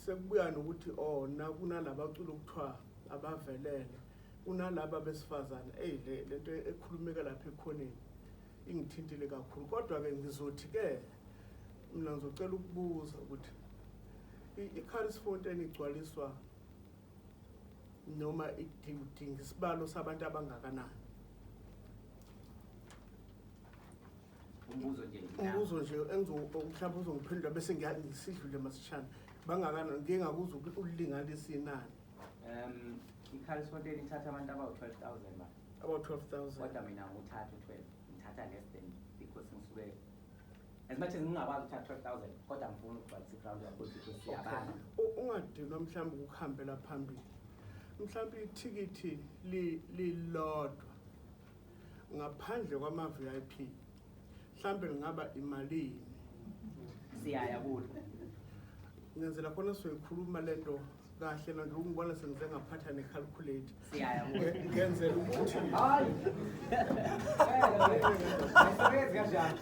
sekubuya nokuthi oh kunalaba cula ukuthiwa abavelele kunalaba besifazane eyi le lento ekhulumeka lapha ekhoneni ingithintile kakhulu kodwa-ke ngizothi-ke mina ngizocela ukubuza ukuthi i-caris fontain igcwaliswa noma idinga isibalo sabantu abangakanani umbuzo nje umbuzo nje mhlawumbe uzongiphendula bese ngiyasidlule masishana bangakanani ngingakuzwa ukuthi ulinganiswe inani ungadinwa mhlawumbe ukuhambela phambili mhlawumbe ithikithi lilodwa ngaphandle kwama-vip mhlawumbe lingaba imalini siyaya kulo ngenzela khona soyikhuluma le nto kahle nake ungibona sengize ngaphatha necalculate Siyaya kuwe. Nge- ngenzela ukuthi Hayi. Ayisebenzi kanjalo.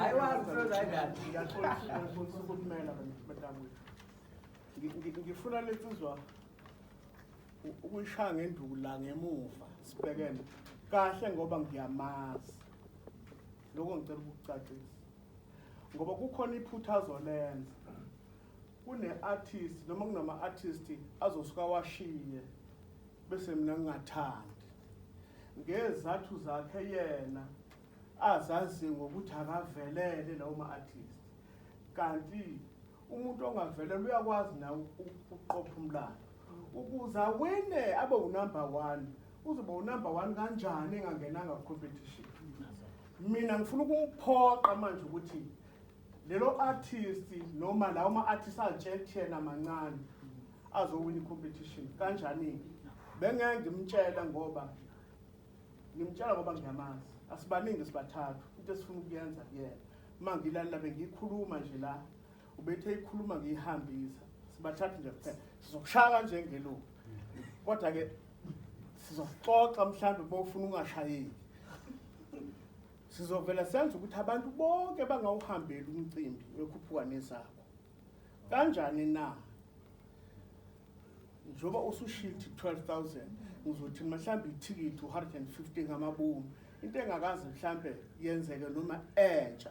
Ayiwazi ukusebenza kanjani. Ngiyaxolisa ngiyaxolisa ukumela madam Ngi- ngi- ngifuna lensizwa u- ukuyishaya ngenduku la ngemuva sibhekene kahle ngoba ngiyamazi lokho ngicela ukukucacisa ngoba kukhona iphutha azolenza kune-artist noma kunama-artist azosuka washiye bese mina ngingathandi ngezathu zakhe yena azazi ngokuthi akavelele lawo ma-artist kanti umuntu ongavelele uyakwazi nawe ukuqopha umlando ukuze awine abe unumber one uzoba unumber one kanjani engangenanga competition mina ngifuna ukumphoqa manje ukuthi lelo artist noma lawo ma artist atshetshena mancane azowina competition kanjani bengeke ngimtshela ngoba ngimtshela ngoba ngiyamazi asibaningi sibathathu into esifuna ukuyenza kuyena uma ngilalela bengiyikhuluma nje la ubethe ikhuluma ngiyihambisa sibathathu nje kuphela sizokushaya kanje ngeluku kodwa ke sizoxoxa mhlawumbe bofuna ungashayeki Sizovela senze ukuthi abantu bonke bangawuhambeli umcimbi wekhuphuka nezakho. Kanjani na? Njoba usushilthi 12000 ngizothi mhlawumbe ithikithi 150 ngamabomu into engakaze mhlambe yenzeke noma entsha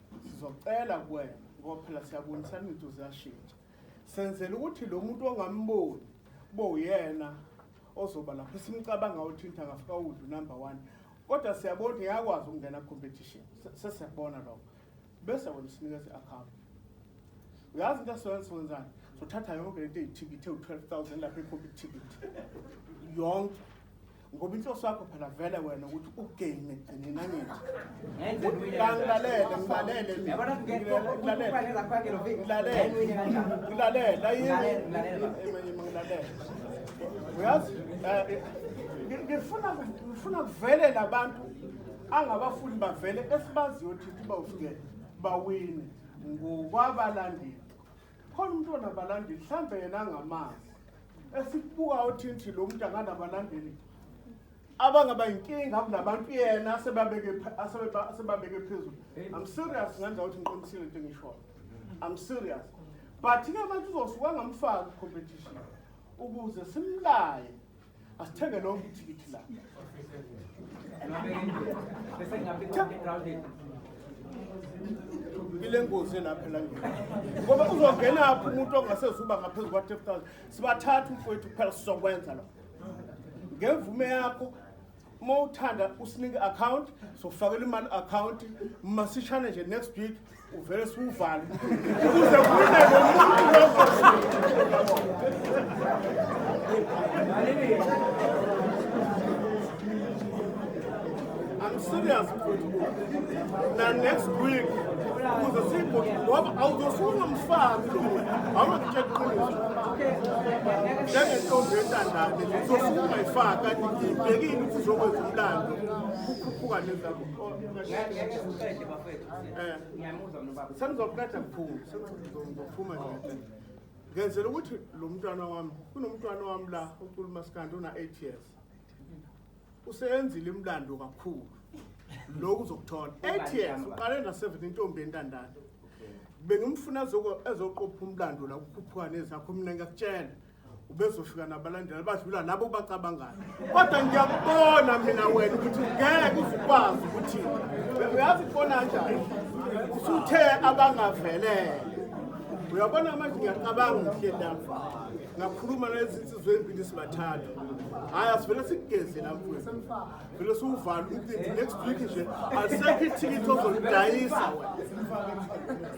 sizocela kuwena ngoba phela siyabonisana izinto ziyashintsha senzela ukuthi lo muntu ongamboni kube uyena ozoba lapho simcabanga ukuthi into angafika uwudu number one kodwa siyabona ukuthi ngiyakwazi ukungena competition sesiyakubona lokho bese wena usinikeza i-account uyazi into esiwenza siwenzani sothatha yonke lento eyithikithi ewu-twelve thousand lapho ekhombe ithikithi yonke ngoba inhloso yakho phela vele wena ukuthi ugain ekugcineni angithi ngilalele ngilalele ngilalele ngilalele uyazi eh, ngifuna ngifuna kuvele labantu angabafuni bavele esibaziyo thithi bawufike bawine ngokwabalandeli khona umuntu onabalandeli mhlawumbe yena angamazi esikubuka othinthi lo muntu anganabalandeli abangaba yinkinga kunabantu yena asebabeke asebeba- asebabeke phezulu i'm serious ngenza ukuthi ngiqinisile into engishoyo i'm serious but ke manje uzosuka ngamfaka competition ukuze simlaye asithenge lonke ithikithi la ile ngozi elapha elangeni ngoba uzongenaphi umuntu ongasezuba ngaphezu kwa-3 sibathatha umfowethu kuphela sizokwenza lo ngemvume yakho uma uthanda usinike account sokufakela imali account masishane nje next week uvele siwuvale ukuze kunele I'm serious na next week kuze siyibhuti ngoba awuzosuke ungamfaki lo muntu awunakutshela iqiniso njengentombi entandane uzosuke ungayifaki kanti ngiyibhekile ukuthi uzokwenza umlando kukhuphuka nezabo sengizokuqeda kukhulu sengizophuma nje ngenzela ukuthi lo mntwana wami kunomntwana wami la uculumasikandi una-eight years useyenzile imlando kakhulu lokhu uzokuthola eight years uqale na-seven intombi entandane bengimfuna ezoqopha umlando la kukhuphuka nezakho mina ngiyakutshela ubezofika nabalandela badlula labo bacabangayo kodwa ngiyakubona mina wena ukuthi ngeke uzikwazi ukuthi uyazi kubona njani usuthe abangavelele uyabona manje ngiyacabanga ngihlendamfana ngakhuluma nezinsizwa ezimbili sibathathu hhayi asivele sikugeze la mfwethu vele siwuvala umcimbi next week nje alisekho ithikithi ozolidayisa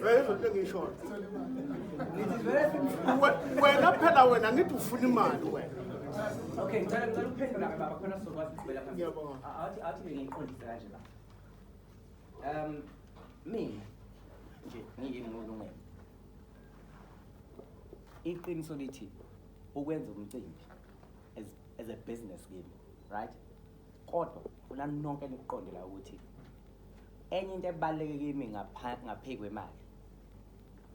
wena izoto engiyishona wena phela wena ngithi ufuna imali wena Okay, ngicela ngicela ukuphendula ke baba khona sizokwazi ukuqhubela phambili. Ngiyabonga. Athi athi bengiqondisa kanje la. Um mina nje ngiyimulungelo. iqiniso lithi ukwenza umcimbi as, as a business game right kodwa funa nonke nikuqonde la ukuthi enye into ebaluleke kimi ngaphezu kwemali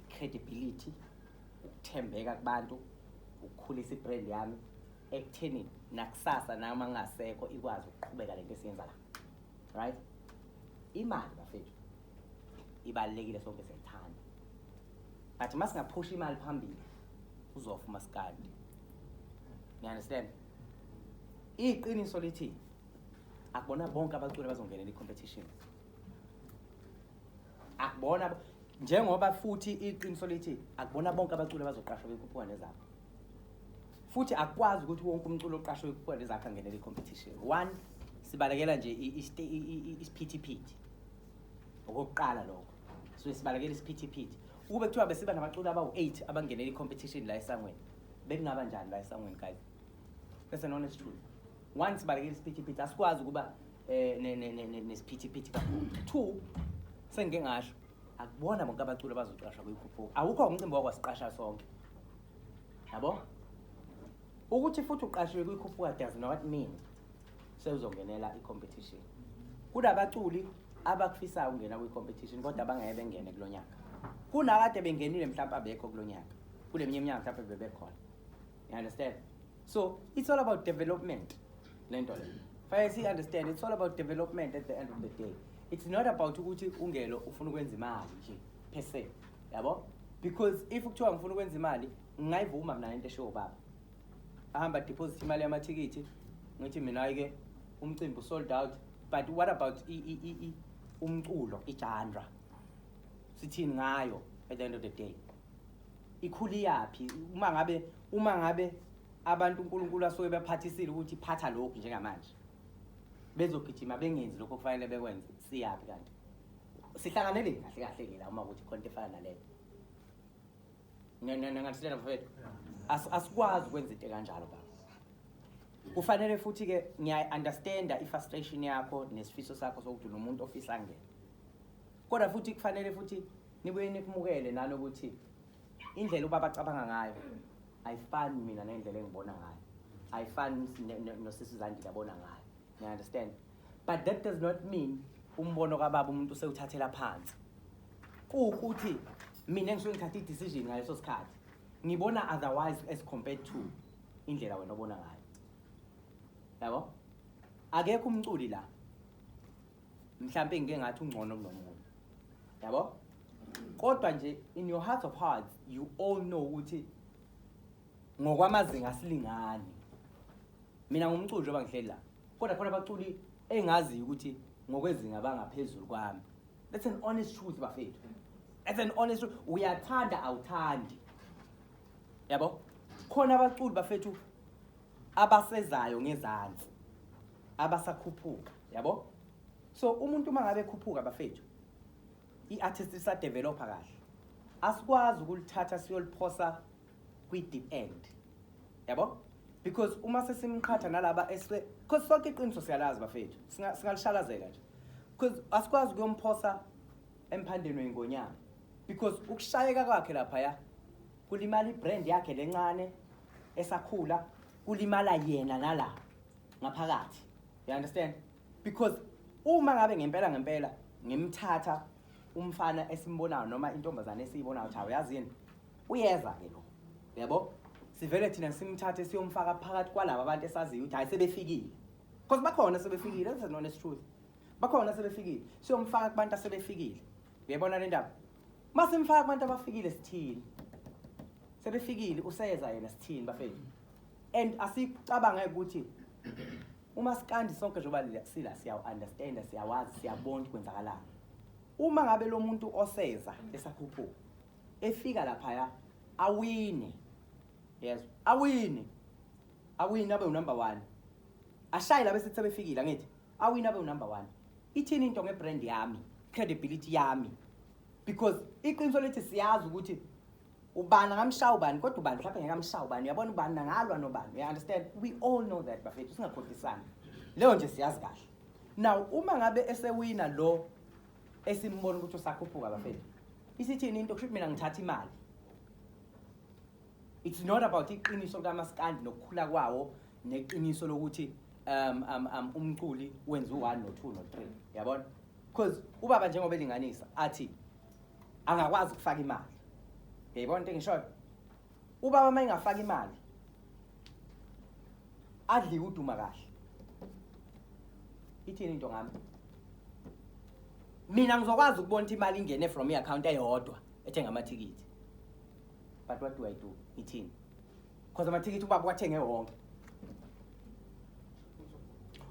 credibility ukuthembeka kubantu ukukhulisa ibrand yami ekutheni nakusasa nami angasekho ikwazi ukuqhubeka lento esiyenza la right imali bafethu ibalulekile sonke siyayithanda but uma singaphusha imali phambili uzofa umaskandi you understand iqiniso lithi akubona bonke abaculi bazongenela i-competition akubona njengoba futhi iqiniso lithi akubona bonke abaculi abazoqashwa bekhuphuka nezakho futhi akwazi ukuthi wonke umculo oqashwe kukhona ezakhe angenele i-competition one sibalekela nje isiphithiphithi okokuqala lokho suke sibalekela isiphithiphithi ukube kuthiwa besiba nabaculi abawu-eight abangenela i-competition la esangweni bekungaba njani la esangweni guys that's an honest truth one sibalekela isiphithiphithi asikwazi ukuba um nesiphithiphithi kakhulu two sengike ngasho akubona bonke abaculi abazoqashwa kuyikhuphuka awukho umcimbi wakwasiqasha sonke yabo ukuthi futhi uqashiwe kuyikhuphuka does not mean sewuzongenela i-competition kunabaculi abakufisayo ukungena kwi-competition kodwa bangeke bengene kulo nyaka kunakade bengenile mhlawumpe abekho kulo nyaka kule minye iminyaka mhlawumpe bebekhona you understand so it's all about development le nto le fanele siyi-understand it's all about development at the end of the day it's not about ukuthi ungelo ufuna ukwenza imali nje per se yabo because if kuthiwa ngifuna ukwenza imali ngingayivuma mina lento eshiwo baba ahamba deposit imali yamathikithi ngithi mina-ke umcimbi usold out but what about i, i, i, i, umculo ijanra sithini ngayo at the end of the day ikhuli yaphi uma ngabe uma ngabe abantu uNkulunkulu asuke bephathisile ukuthi phatha lokhu njengamanje bezogijima bengenzi lokho kufanele bekwenze siyaphi kanti sihlanganele kahle kahle ke la uma ukuthi khonto efana naleyo nganisilela mfowethu As- asikwazi ukwenza into kanjalo baba kufanele futhi ke ngiyayi-understanda i-frustration yakho nesifiso sakho sokuthi nomuntu ofisa angene kodwa futhi kufanele futhi nibuye nikumukele nanokuthi indlela ubaba acabanga ngayo ayifani mina nendlela engibona ngayo ayifani ne- ne- nosisi zandile abona ngayo niya-understand but that does not mean umbono kababa umuntu usewuthathela phansi kuwukuthi mina ngisuke ngithatha i-decision ngaleso sikhathi ngibona otherwise as compared to indlela wena obona ngayo yabo akekho umculi la mhlawumpe ngike ngathi ungcono kunomuntu yabo kodwa nje in your heart of hearts you all know ukuthi ngokwamazinga asilingani mina ngumculi njengoba ngihleli la kodwa khona abaculi engaziyo ukuthi ngokwezinga bangaphezulu kwami that's an honest truth bafethu that's an honest truth uyathanda awuthandi yabo khona abaculi bafethu abasezayo ngezansi abasakhuphuka yabo so umuntu uma ngabe ekhuphuka bafethu i-artist isadevelopha kahle asikwazi ukulithatha siyoliphosa kwi-deep end yabo because uma sesimqhatha nalaba eswe because sonke iqiniso siyalazi bafethu Singa- singalishalazela nje because asikwazi ukuyomphosa emphandeni weyingonyama because ukushayeka kwakhe laphaya kulimala ibrand yakhe lencane esakhula kulimala yena nala ngaphakathi you understand because uma ngabe ngempela ngempela ngimthatha umfana esimbonayo noma intombazane esiyibonayo ukuthi awuyazi yini Uyeza-ke lo, uyabo? Sivele thina simthathe siyomfaka phakathi kwalaba abantu esaziyo ukuthi hhayi sebefikile. Because bakhona sebefikile, that's an honest truth. Bakhona sebefikile, siyomfaka kubantu asebefikile. Uyayibona le ndaba? Uma simfaka kubantu abafikile sithini? Sebefikile, useza yena sithini bafethu? And asicabange ukuthi uma sikandi sonke njengoba le- sila siyawu-understanda, siyawazi, siyabona ukuthi kwenzakalani. Uma ngabe lo muntu oseza esakhuphuka, efika laphaya awine yezwa awine awine abe unumber 1 ashaye labe sithi sebefikile angithi awine abe unumber 1 ithini into ngebrand yami credibility yami because iqiniso lethi siyazi ukuthi ubani angamshaya ubani kodwa ubani mhlawumbe ngeke amshaya ubani uyabona ubani nangalwa nobani you understand we all know that bafethu singakhohlisani leyo nje siyazi kahle now uma ngabe esewina lo esimbona ukuthi usakhuphuka bafethu isithini into kusho mina ngithatha imali it's not about iqiniso likaMaskandi nokukhula kwawo neqiniso lokuthi um um um umculi wenza u1 no2 no3 yabona because ubaba njengoba elinganisa athi angakwazi ukufaka imali yayibona into engishoyo Ubaba uma engafaka imali adliwe uduma kahle. Ithini into ngami? Mina ngizokwazi ukubona ukuthi imali ingene from i-account eyodwa ethenga amathikithi. But what do I do? Ngithini? Because amathikithi ubaba wathenge wonke.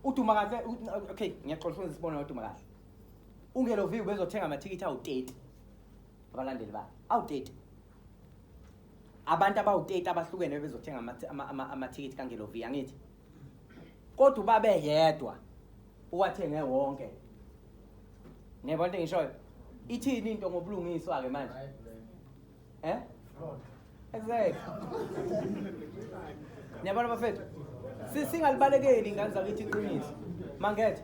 Uduma kahle u- okay ngiyaxoxa usebenzisa isibonelo uduma kahle. Ungeloviwe bezothenga amathikithi awu-30 abalandeli bakhe. Awu-30. abantu abawu-30 abahlukene bebezothenga amathikithi kangelovi angithi kodwa ubabe yedwa uwathenge wonke ngiyabona into engishoyo ithini into ngobulungiswa-ke manje eh exactly niyabona bafethu singalibalekeli ingane zakithi iqiniso mangethe